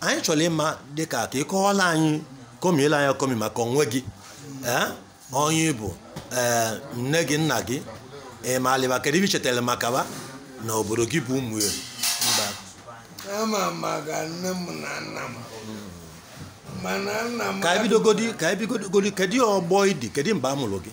anyị chọrọ ịma dịka ka ị kọwala anyị kọmiela anyị akọmi maka onwe gị onye ị bụ nne gị nna gị ị malị ba kedu ive ị chetara maka ba na obodo gị bụ ụmụeri ama maka nne m na nna m mana nna m ka e bidogodi ka e bidogodi kedu ọgbọ ị dị kedu mgbe a mụrụ gị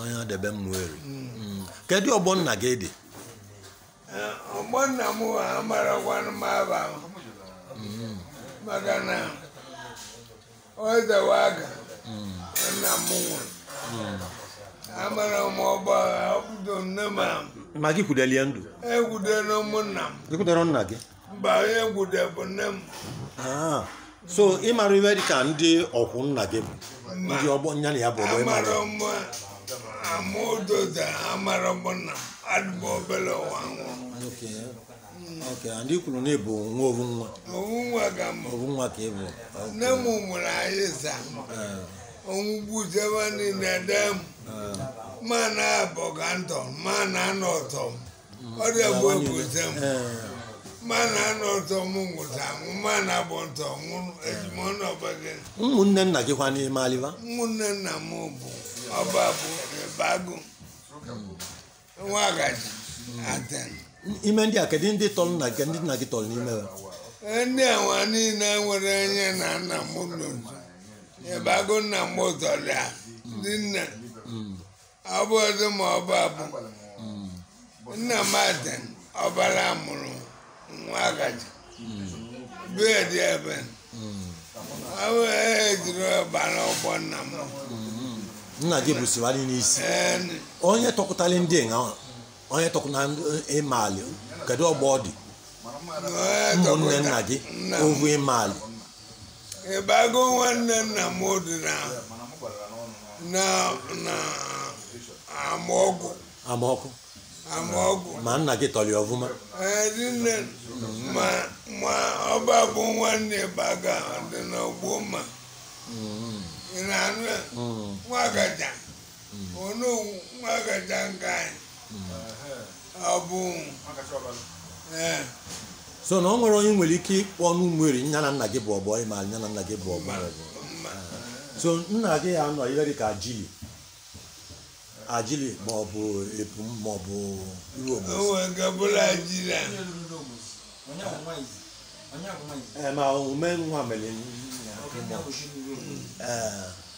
onye adebe ụmụeri hmm. kedu ọgbọ nna gị dị eh, ọgbọ nna m amarakwanụ m ava hmm. maka na o tewo aka hmm. nna m nwụrụ amara m ọgba ọbụdo nne m ma gị kwudelie ndụ ekwudere m nna m ị kwudere nna gị mba onye m kwude bụ nne m Ah, so ị mara ive dịka ndị ọkwụ nna gị bụ ndị ọgbọ nya na ya bụ ọgbọ ị mara amara m ama ụdọda amara m nna m adị m obere ụwa nwụrụ Okay. Okay, and ị kwuru na ị bụ nwa ovu nwa ovu nwa ka m ovu nwa ka ị bụ nne m mụrụ anyị asaa ọnwụ gbuchaa ba niile de m ma nabọ ka m tọ ma nanọ tọ m ọrịa bụ obodo m ma nanọ tọ m nwụcha anwụ ma nabọ m tọ nwụrụ ezigbo ọnụ ọba gị ụmụnne nna gị kwanụ ị malị ba ụmụnne nna m bụ ọba bụ ebe agụ nwa agaji aten ime ndị a kedu ndị tọrọ nna gị ndị nna gị tọrọ n'ime ya ndị awa niile nwere onye na nna m lụrụ ebe agụ nna m tọrọ ya ndị nne ọ bụ ọzọ ma ọ bụ abụ nna m ada ọbara mụrụ nwa agaji bee dị ebe ọ bụ ejiri ọbara ọgbọ nna m nna gị bụ siwari n'isi Ee, onye tọkọtali ndị a onye tọkọtali ị mali kedu ọgbọ ọ dị na onye ụmụnne tọkọta nna gị nna m. ovu ị mali ịbago nwanne nna m dị na na na amaọgwụ amaọkụ amaọgwụ ma nna gị tọrọ ya ọfụma ee dị nne ma ma ọba bụ nwanne baga dị n'ọgbọ ma ị na-anụ ya nwa agaja onu nwa agaja nke anyị ọ bụ ee so na ọ nwere onye ị nwere ike ịkpọ n'ụmụeri nya na nna gị bụ ọgbọ ị ma nya na nna gị bụ ọgbọ mba so nna gị ya nọ ihe dịka ajili ajili ma ọ bụ epum ma ọ bụ iru o obosi nwere nke bụla jiri a ee ma omume nwa mere nna gị ma ọ- ee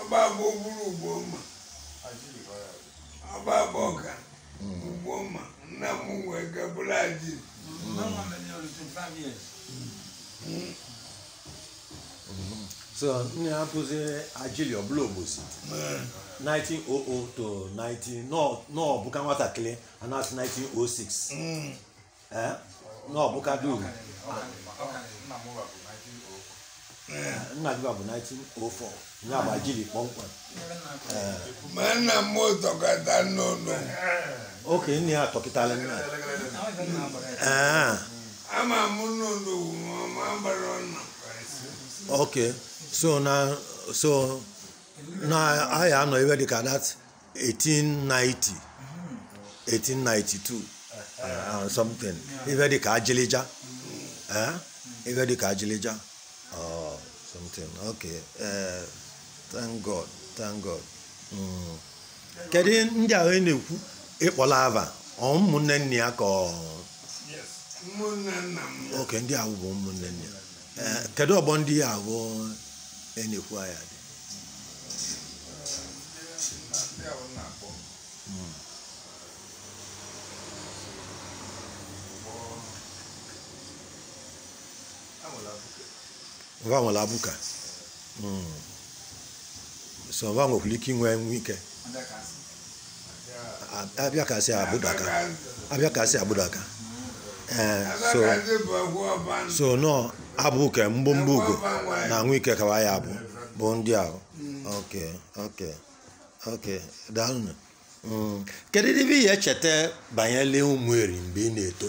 agba abụ bụrụ ugbo mma agba abụ ọka ugbo mma nna m wee gabụrụ aji so nne ya bụzi ajili ọbụla ogbosi 1900 to 19 n'ọbụka nwatakịrị a na-asị 1906 Eh? na ọbụka dum nna gị bụ 1904 ya bụ ajili kpọmkwem Eh, ma nna m tọkọta n'ụlọ okay nne ya tọkịtara nna Eh, ama m n'ụlọ ma gbara ọnụ okay so na so na anyị anọ ibe dị ka that 1890 1892 uh, something ife dị ka ajịlịja Eh? ife dị ka ajịlịja Oh, something okay Eh, thank god thank god Mm. kedu ihe ndị ahụ ị na-ekwu ị kpọla ava ọ ụmụnne nne ya ka ọ Yes. Ụmụnne nna m. okay ndị ahụ bụ ụmụnne nne ya Eh, kedu ọgbọ ndị ya bụ ị na-ekwu ya dị va nwere abụka so va nwekwara ike inwe nwe ike A- abịa ka si agbụdaka abịa ka si agbụdaka ee so so nọ abụ ke mgbomgbo ugo na anwụ ike kawa ya abụ bụ ndị ahụ ok ok ok daalụnụ Mm. kedu ibe ị ya-echeta banyere Ụmụeri mgbe ị na-eto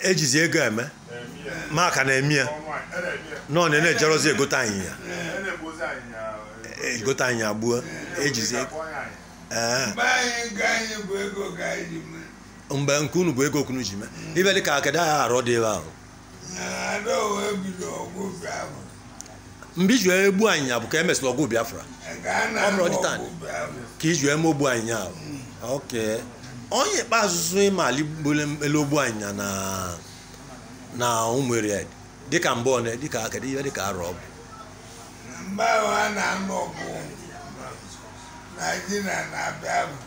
ejizi ego eme maka na-eme ya na ọ na-ejerozi egote anyịnya egote anyịnya gbuo ejizi mgbe nke unu bụ ego ka unu ji mee ibe dị ka kedu arọ dị ebe ahụ mgbe e ji wee gbuo anyịnya bụ ka e mesịrị ọgụ biafra ọ bụrụ ọdịta anyị ka e ji wee mee ogbu anyịnya ahụ okay onye ikpeazụ so ịma ali gbole elu ogbu anyịnya na na Ụmụeri dịka mgbe ọ na dịka kedu ihe dịka arọ ọ bụ mgbe ahụ a na-anụ ọgụ naijiria na biafra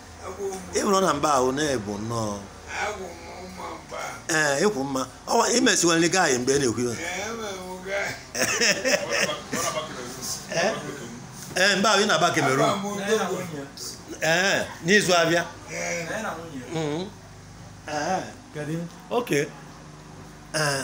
ịbụrụ na mba ahụ na-ebu nnọọ ee ịkwụ mma ọwa imesiwere gị anyị mgbe ị na-ekwu iwe ee mba ahụ ị na-aba Cameroon ee n'izu abịa Mhm. Ee, kedu- oke ee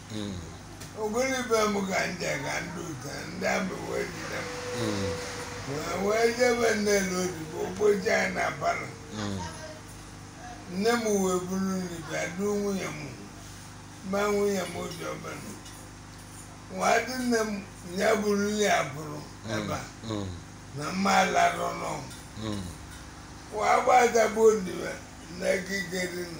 ogoli be m ka ndị ka ndị ụta ndị ami wee jide m wee wee jebe nne na odibo okpocha ya na palọ nne m wee buru nri bịa duo nwunye m ma nwunye m obi ọbụla wee dị nne m ya buru nri a pụrụ ebe a na mma alarọ n'ọgwụ wee gbadagbuo ndiwe na ekike dị na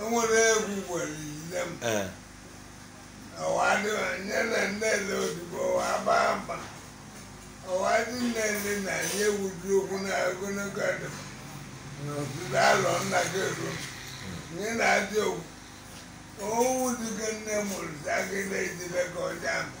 enwere egwu gwara ile m ee ọwadịnye na nnele odibo wa gbaa mba ọwadị nnele na anyị ewuju okwu na ogologo adị n'ọtụtụ alọ nna gị eru nye na adị ogwu owu dịgo nne mụrụ zagide ejide ka ọja mba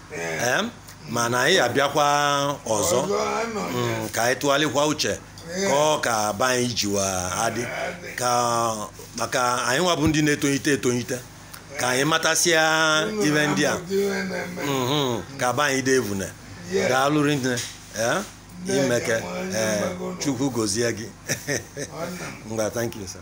Ee, mana anyị ya-abịakwa ọzọ mm, ka anyị tụgharịkwa uche ka Ọka be anyị jiwa adị ka maka anyị nwa bụ ndị na-etonyite etonyite ka anyị matasịa ive ndị a mhm, ka be anyị dị evune daalụ rinne ee imeke ee chukwu gozie gị ngwa thank you sir